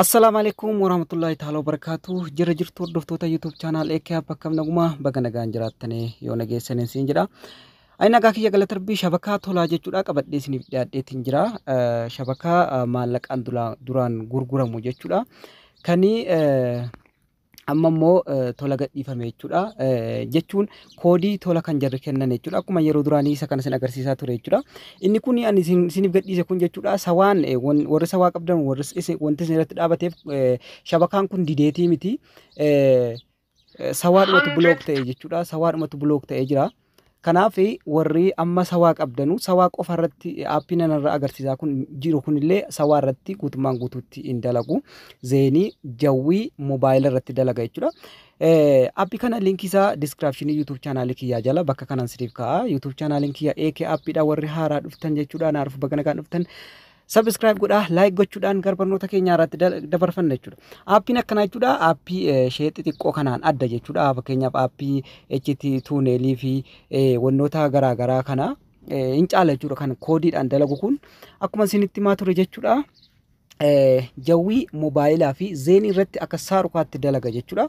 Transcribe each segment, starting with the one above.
Assalaamu alaikum warahmatullahi ta'ala wabarakaatu jirra jirtu hordoftoota YouTube channel Eekee App akkam naguma baga nagaan jiraattanii yoo nageessaniin siin jedha. Ani nagaa kiyya galata rabbii shabakaa tolaa jechuudha qabadhee isiniif dhiyaadheetiin jira. Eh, Shabakaa eh, maallaqaan dula- duraan gurguramu jechuudha. Kani eh, amma immoo tola gadhiifame jechuudha. Jechuun koodii tola kan jarri kennan jechuudha. Akkuma yeroo duraanii isa kana isin agarsiisaa ture jechuudha. Inni kun ani isiniif gadhiise kun jechuudha. Sawaan warri sawaa qabdan warri wanti isin irratti dhaabateef shabakaan kun dideetii miti. Sawaadhumatu bulook ta'e jechuudha. Sawaadhumatu bulook ta'e jira. Kanaaf warri amma sawaa qabdanu sawaa qofa irratti aappii nan irra agarsiisaa kun jiru kunillee sawaa irratti guutummaan guutuutti hin dalagu. Zeenii jawwii moobaayila irratti dalaga jechuudha. Aappii kana linkii isaa diskiraapshinii YouTube chaanaalii kiyyaa jala bakka kanaan siniif kaa'a. YouTube chaanaaliin kiyya AK Aappiidha warri haaraa dhuftan jechuudha. Naaf baga nagaan dhuftan. Subscribe godhaa, like gochuudhaan gara barnoota keenyaa irratti da- dabarfanna jechuudha. Aappiin akkanaa jechuudha aappii eh, ishee xixiqqoo kanaan adda jechuudha. Fakkeenyaaf aappii HT tuuneelii fi eh, wantoota garaa garaa kana eh, hin caala jechuudha kan koodiidhaan dalagu kun akkuma isinitti himaa ture jechuudha. Eh, Jawwii moobaayilaa fi zeenii irratti akka saarukaatti dalaga jechuudha.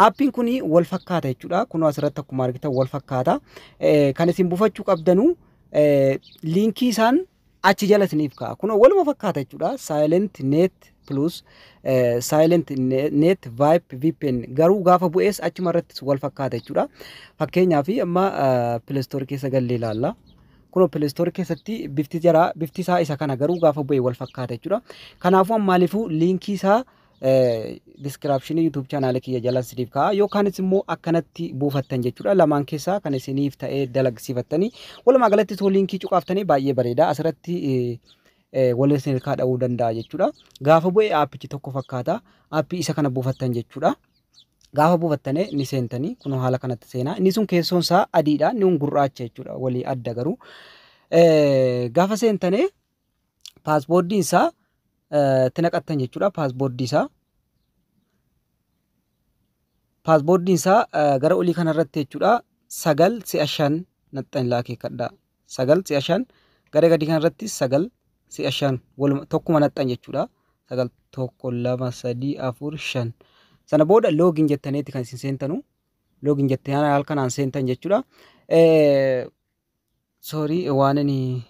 Aappiin kun wal fakkaata jechuudha. Kunoo asirratti akkuma argitan wal fakkaata. Eh, Kan isin buufachuu qabdanu eh, liinkii isaan achi jala isiniif ka'a. Kunoo waluma fakkaata jechuudha. Silent net plus eh, silent ne- net vip vpn garuu gaafa bu'ees achuma irrattis wal fakkaata jechuudha. Fakkeenyaaf amma pilestoor keessa gallee ilaalla. Kunoo pilestoor keessatti bifti jara bifti isaa isa kana garuu gaafa bu'e wal fakkaata jechuudha. Kanaafuu ammaaliifuu liinkii isaa diskiraapshinii YouTube chaanaala kiyya jalan siniif ka'a yookaanis immoo akkanatti buufattan jechuudha lamaan keessaa kan isiniif ta'ee dalagsiifattanii walumaa galatti soo liinkii cuqaaftanii baay'ee bareeda asirratti waliin isin ilkaa dha'uu danda'a jechuudha gaafa bu'e aappichi tokko fakkaata aappii isa kana buufattan jechuudha. Gaafa buufattanii ni seentanii kun haala kanatti seenaa inni sun keessoon isaa adiidha inni kun gurraacha jechuudha walii adda garuu gaafa seentanii paasboordiin isaa itti naqattan jechuudha paasboordii isaa. Paasboordiin isaa gara olii kanarratti jechuudha sagal si'a shan naxxan ilaa akeekkadha. Sagal si'a shan gara gadii kanarratti sagal si'a shan waluma tokkuma naxxan jechuudha. Sagal tokko lama sadii afur shan. Sana booda loogiin jettaniiti kan isin seentanu. Loogiin jettanii halkanaan seentan jechuudha. Sorry waanini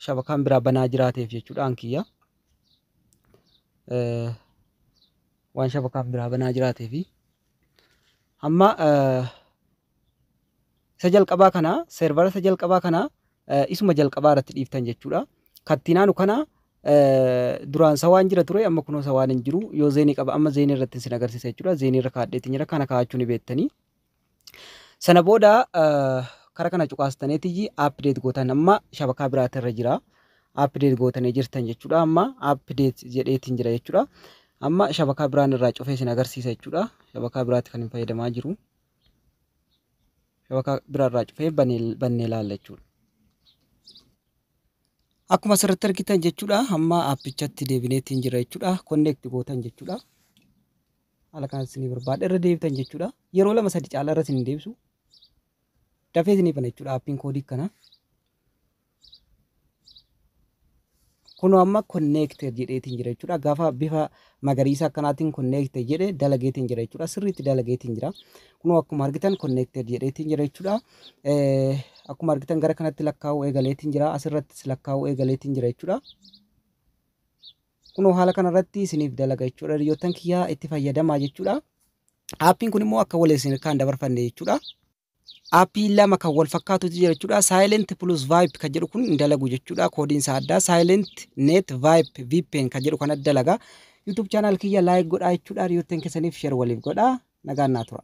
shabakaan biraa banaa jiraateef jechuudhaan kiyya. Waan shabakaan biraa banaa jiraateef. Amma isa jalqabaa kana seervara isa jalqabaa kana isuma jalqabaa irratti dhiiftan jechuudha. Kattiinaanu kana duraan isa waan jira ture amma kunoo isa waan hin jiru yoo zeenii qaba amma zeenii irratti isin agarsiisa jechuudha. Zeenii irra kaadheetiin jira kana kaa'achuu ni beektanii. Sana booda kara kana cuqaastaneetiyyi update gootan amma shabakaa biraati irra jira. Update gootanii jirtan jechuudha. Amma update jedheetiin jira jechuudha. Amma shabakaa biraan irraa cufee isin agarsiisa jechuudha. Shabakaa biraatti kan hin fayyadamaa jiru. Shabakaa biraa irraa cufee bannee ilaalla jechuudha. Akkuma asirratti argitan jechuudha. Amma appichatti deebineetiin jira jechuudha. Connect gootan jechuudha. haala kanaan isinii barbaada irra deebitan jechuudha yeroo lama sadi caalaa irra isin deebisu dafee isinii bana jechuudha aappiin koodii kana kunoo amma konneekte jedheetiin jira jechuudha gaafa bifa magariisa akkanaatiin konneekte jedhe dalageetiin jira jechuudha sirriitti dalageetiin jira kunoo akkuma argitan konneekte jedheetiin jira jechuudha akkuma argitan gara kanatti lakkaa'uu eegaleetiin jira asirrattis lakkaa'uu eegaleetiin jira jechuudha. Kunoo haala kana irratti isiniif dalaga jechuudha hiriyoottan kiyyaa itti fayyadamaa jechuudha. Aappiin kun immoo akka wal isin harkaan dabarfanne jechuudha. Aappii lama kan wal fakkaatutu jira jechuudha. Silent plus Vibe kan jedhu kun hin dalagu jechuudha. Koodiin isaa addaa Silent Net Vibe VPN kan jedhu kana dalaga. YouTube channel kiyya like godhaa jechuudha. Hiriyoottan keessaniif share waliif godhaa. Nagaan naa tura.